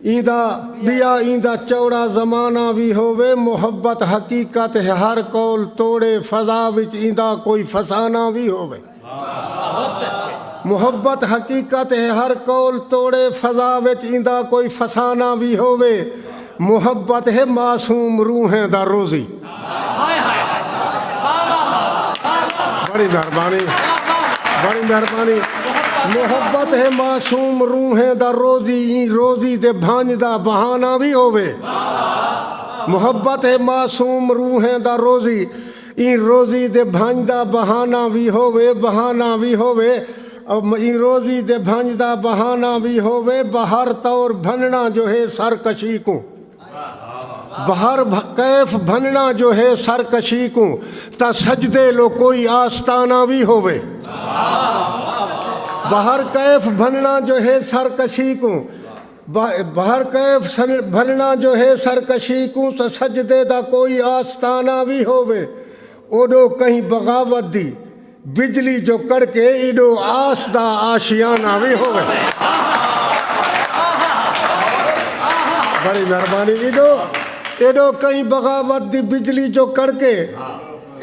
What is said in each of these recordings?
ایندا ٻیا ایندا چوڑا زمانہ وی ہووے محبت حقیقت ہے ہر قول توڑے فضا وچ ایندا کوئی فسانہ وی ہووے محبت حقیقت ہے ہر قول توڑے فضا وچ ایندا کوئی فسانہ وی ہووے محبت ہے معصوم روحیں دا روزی۔ بڑی مہربانی بڑی مہربانی محبت ہے معصوم روحیں دا روزی ایں روزی دے بھانج دا بہانہ بھی ہووے محبت ہے معصوم روحیں دا روزی ایں روزی دے بھانج دا بہانہ بھی ہووے بہانہ بھی ہووے ایں روزی دے بھانج دا بہانہ بھی ہووے بہر طور بھننا جو ہے سر کشی کوں بہر کیف بھنڑاں جو ہے سر کشی کوں تاں سجدے لو کوئی آستانہ وی ہووے۔ بہر کیف بھنڑاں جو ہے سر کشی کوں بہر کیف بھنڑاں جو ہے سر کشی کوں تاں سجدے دا کوئی آستانہ وی ہووے۔ اوڈو کہیں بغاوت دی بجلی جو کڑکے ایڈو آس دا آشیانہ وی ہووے۔ بڑی مہربانی ایڈو ایڈو کہیں بغاوت دی بجلی جو کڑکے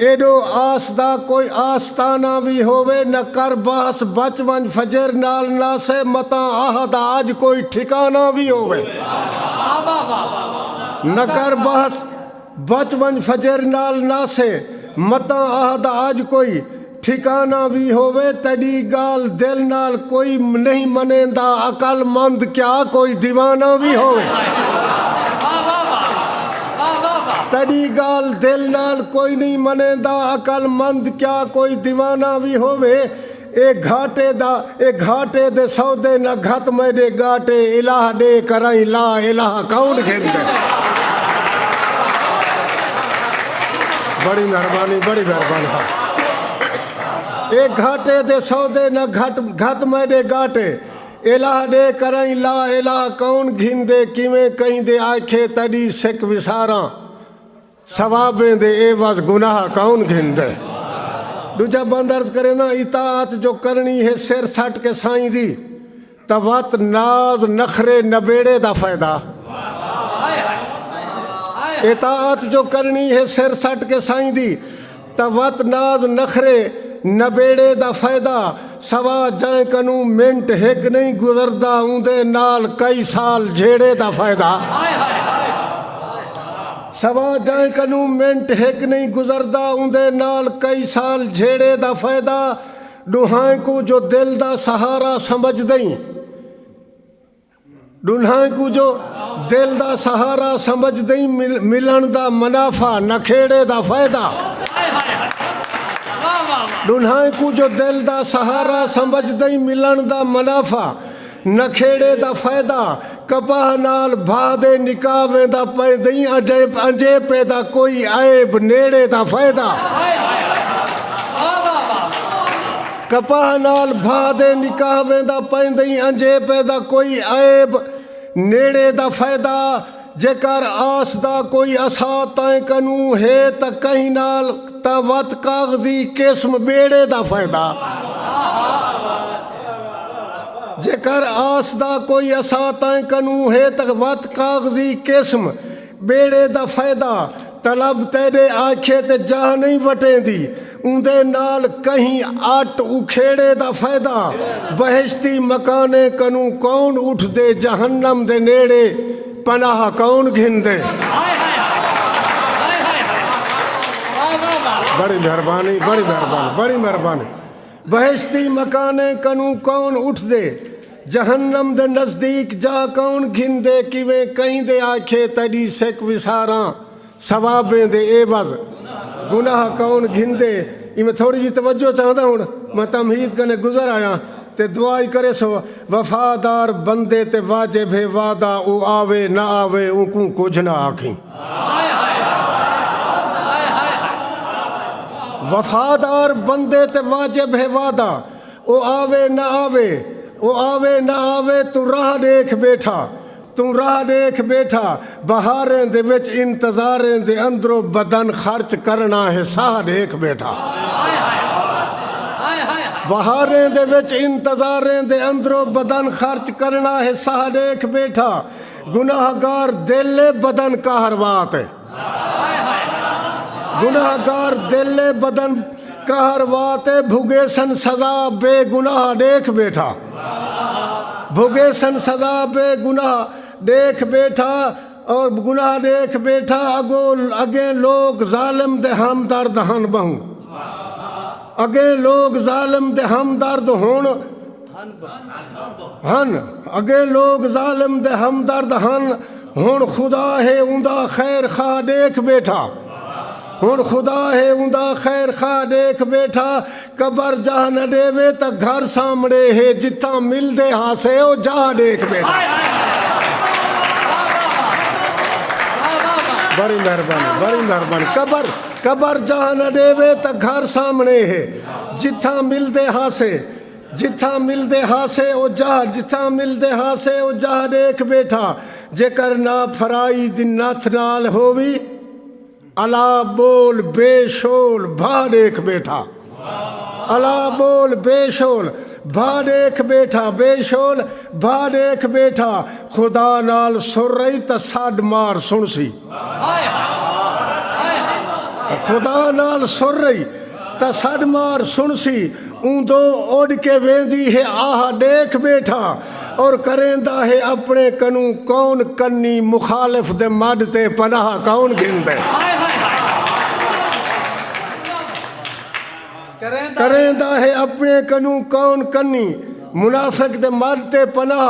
ایڈو آس دا کوئی آستانہ وی ہووے نہ کر بحث بچ ونج فجر نال نہ سے متاں آہ دا اج کوئی ٹھکانہ وی ہووے نہ کر بحث بچ ونج فجر نال ناسے۔ متاں آہ دا اج کوئی ٹھکانہ وی ہووے تیڈی گالھ دل نال کوئی نہیں منیندا عقل مند کیا کوئی دیوانہ وی ہووے تیڈی گالھ دل نال کوئی نہیں منیندا عقل مند کیا کوئی دیوانہ وی ہووے اے گھاٹے دا اے گھاٹے دے سودے نہ گھت میڈے گاٹے الہ ڈے کرائیں لا الہ کون گھندے بڑی مہربانی بڑی مہربانی اے گھاٹے دے سودے نہ گھٹ گھت میں دے گاٹے الہ دے کرائیں لا الہ کون گھن دے کیویں کہیں دے آکھے تڑی سکھ وساراں ثوابیں دے عیوض گناہ کون گھندے۔ ڈوجھا بند عرض کرے نا اطاعت جو کرنی ہے سر سٹ کے سائیں دی تاں وت ناز نخرے نبیڑے دا فائدہ۔ اطاعت جو کرنی ہے سر سٹ کے سائیں دی۔ تاں وت ناز نخرے نبیڑے دا فیدہ سوا جائیں کنوں منٹ ہک نئیں گزردا اوندے نال کئی سال جھیڑے دا فیدہ سوا جائیں کنوں منٹ ہک نئیں گزردا اوندے نال کئی سال جھیڑے دا فیدہ ڈوہائیں کوں جو دل دا سہارا سمجھدئیں ڈنہاں کوں جو دل دا سہارا سمجھدئیں ملن دا منافع نکھیڑے دا فائدہ ڈنہاں کوں جو دل دا سہارا سمجھدئیں ملن دا منافع نکھیڑے دا فائدہ کپاہ نال بھا دے نکاح ویندا پیندئیں انجے پے دا کوئی عیب نیڑے دا فائدہ کپاہ نال بھا دے نکاح ویندا پیندئیں انجھے پے دا کوئی عیب نیڑے دا فیدہ جے کر آس دا کوئی اسا تئیں کنوں ہے تاں کہیں نال تاں وت کاغذی قسم بیڑے دا فیدہ جے کر آس دا کوئی اسا تئیں کنوں ہے تاں وت کاغذی قسم ٻیڑے دا فیدہ طلب تیݙے آکھے تے جاہ نئیں وٹیندی اوندے نال کہیں اٹ اکھیڑے دا فیدہ بہشتی مکانے کنوں کون اٹھدے جہنم دے نیڑے پناہ کون گھندے۔ بہشتی مکانیں کنوں کون اٹھدے؟ جہنم دے نزدیک جا کون گھندے؟ کیویں کہیں دے آکھیے تیڈی سک وساراں ثوابیں دے عیوض گناہ کون گھندے؟ ایویں تھوڑی جی توجہ چاہنداں ہن میں تمہید کنیں گزر آیاں تے دعا ای کریسوں وفادار بندے تے واجب ہے وعدہ او آوے نہ آوے اونکوں کجھ نہ آکھیں۔ وفادار بندے تے واجب ہے وعدہ او آوے نہ آوے او آوے نہ آوے توں راہ ݙیکھ ٻیٹھا توں راہ ݙیکھ ٻیٹھا بہاریں دے وچ انتظاریں دے اندرو بدن خرچ کرݨا ہے ساہ ݙیکھ ٻیٹھا بہاریں دے وچ انتظاریں دے اندرو بدن خرچ کرݨا ہے ساہ ݙیکھ ٻیٹھا۔ گناہ گار دل اے بدن قہروات اے۔ گناہ گار دل اے بدن قہروات اے بھگیسن سزا بے گناہ ڈیکھ بیٹھا بھگیسن سزا بے گناہ ڈیکھ بیٹھا اور گناہ ڈیکھ بیٹھا اگو اگیں لوگ ظالم دے ہم درد ہن بہوں اگیں لوگ ظالم دے ہم درد ہن ہن۔ اگے لوک ظالم دے ہمدرد ہن ہن خدا ہے اوندا خیر خواہ ݙیکھ ٻیٹھا ہن خدا ہے اوندا خیر خواہ ݙیکھ ٻیٹھا قبر جاہ نہ ݙیوے تاں گھر سامھݨے ہے جتھاں ملدے ہاسے او جاہ ݙیکھ ٻیٹھا۔ جتھاں ملدے ہاسے او جاہ جتھاں ملدے ہاسے او جاہ ݙیکھ ٻیٹھاں جیکر نہ پھرائی دی نتھ نال ہووی الا ٻول بے شول بھا ݙیکھ ٻیٹھاں الا ٻول بے شول بھا ݙیکھ ٻیٹھاں بے شول بھا ݙیکھ ٻیٹھاں خدا نال سر ائی تاں سݙ مار سݨسی۔ خدا نال سر رہی تاں سݙ مار سݨسی اوندوں اݙ کے ویندی ہے آہا ݙیکھ ٻیٹھاں اور کریندا ہے اپݨے کنوں کون کنی مخالف دے مݙ تے پناہ کون گھندے کریندا ہے اپݨے کنوں کون کنی منافق دے مݙ تے پناہ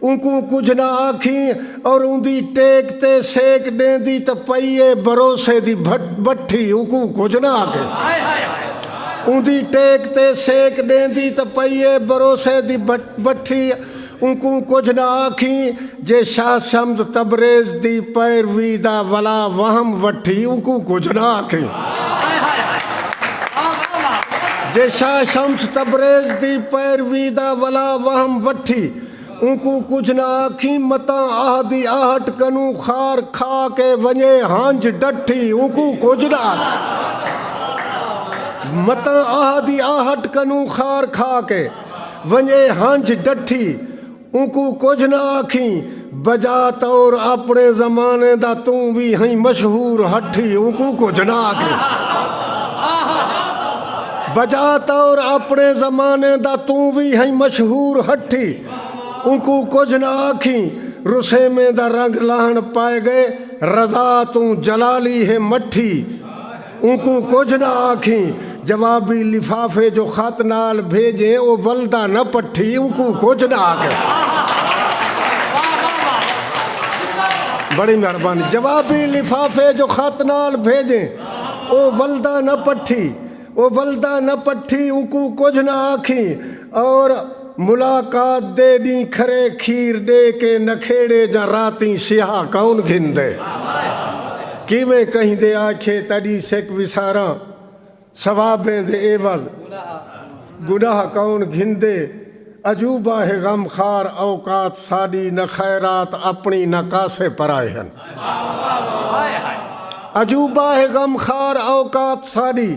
اونکوں کجھ نہ آکھیں اور اوندی ٹیک تے سیک ݙیندی تاں پئی اے بھروسے دی بٹھی اونکوں کجھ نہ آکھیں اوندی ٹیک تے سیک ݙیندی تاں پئی اے بھروسے دی بٹھی اونکوں کجھ نہ آکھیں جے شاہ شمد تبریز دی پیروی دا ولا وہم وٹھی اونکوں کجھ نہ آکھیں جے شاہ شمس تبریز دی پیروی دا ولا وہم وٹھی۔ اونکوں کجھ نہ آکھیں متاں آہ دی آہٹ کنوں خار کھا کے ونجے ہنج ڈٹھی اونکوں کجھ نہ آکھیں متاں آہ دی آہٹ کنوں خار کھا کے ونجے ہنج ڈٹھی اونکوں کجھ نہ آکھیں بجا طور اپنے زمانے دا توں وی ہئیں مشہور ہٹھی اونکوں کجھ نہ آکھے بجا طور اپنے زمانے دا توں وی ہئیں مشہور ہٹھی اونکوں کجھ نہ آکھیں رسیمیں دا رنگ لاہن پائے گئے رضا توں جلالی ہے مٹھی اونکوں کجھ نہ آکھیں۔ جوابی لفافے جو خط نال بھیجے او ولدا نہ پٹھی اونکوں کجھ نہ آکھیں۔ بڑی مہربانی جوابی لفافے جو خط نال بھیجے او ولدا نہ پٹھی او ولدا نہ پٹھی اونکوں کجھ نہ آکھیں اور ملاقات دے ڈینہہ کھرے کھیر ڈے کے نکھیڑے جاں راتیں سیاہ کون گھندے۔ کیویں کہیں دے آکھیے تڈی سک وساراں ثوابیں دے عوض گناہ کون گھندے۔ عجوبہ ہے غم خار اوقات ساڈی نہ خیرات اپنی نہ کاسے پرائے ہن۔ عجوبہ ہے غم خار اوقات ساڈی۔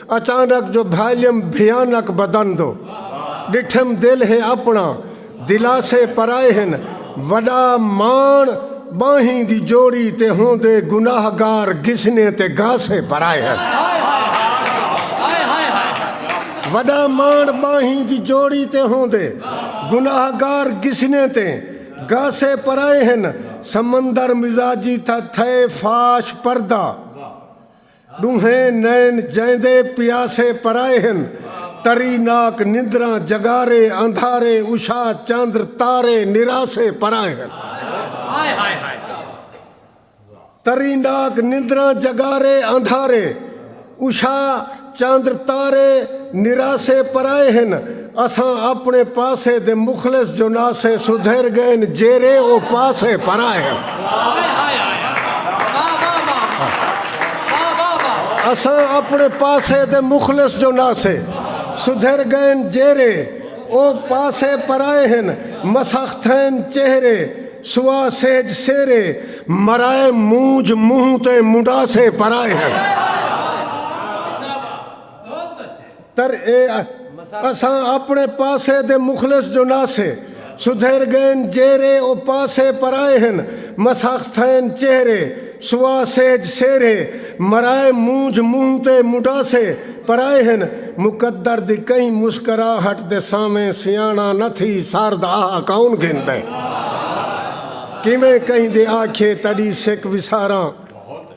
اچانک جو بھالیم بھیانک بدن دو ڈٹھم دل ہے اپنا دلاسے پرائے ہن وڈا ماݨ ٻانہیں دی جوڑی تے ہوندے گناہ گار گھسنے تے گھاسے پرائے ہن وڈا ماݨ ٻانہیں دی جوڑی تے ہوندے گناہ گار گھسنے تے گھاسے پرائے ہن سمندر مزاجی تھا تھئے فاش پردہ ݙونہیں نین جیندے پیاسے پرائے ہن تری ناک نندراں جگارے اندھارے اشا چندر تارے نراسے پرائے ہن تری ناک نندراں جگارے اندھارے اشا چندر تارے نراسے پرائے ہن اساں اپنے پاسے دے مخلص جوناسے سدھیر گئن جیرے او پاسے پرائے ہن۔ اساں اپنے پاسے دے مخلص جوناسے سدھیر گئن جیرے او پاسے پرائے ہن مسخ تھئن چہرے سوا سہج سیرے مرائے مونجھ منہ تے منڈاسے پرائے ہن۔ تر اے اساں اپنے پاسے دے مخلص جو ناسے سدھیر گئین جیرھے او پاسے پرائے ہن مساخ تھئین چہرے سوا سہج سیرھے مرائے مونجھ منہ تے مڈاسے پرائے ہن مقدر دی کہیں مسکراہٹ دے سانویں سیاݨا نہ تھی سارد آہ کون گھندے کیویں کہیں دے آکھیے تڈی سک وساراں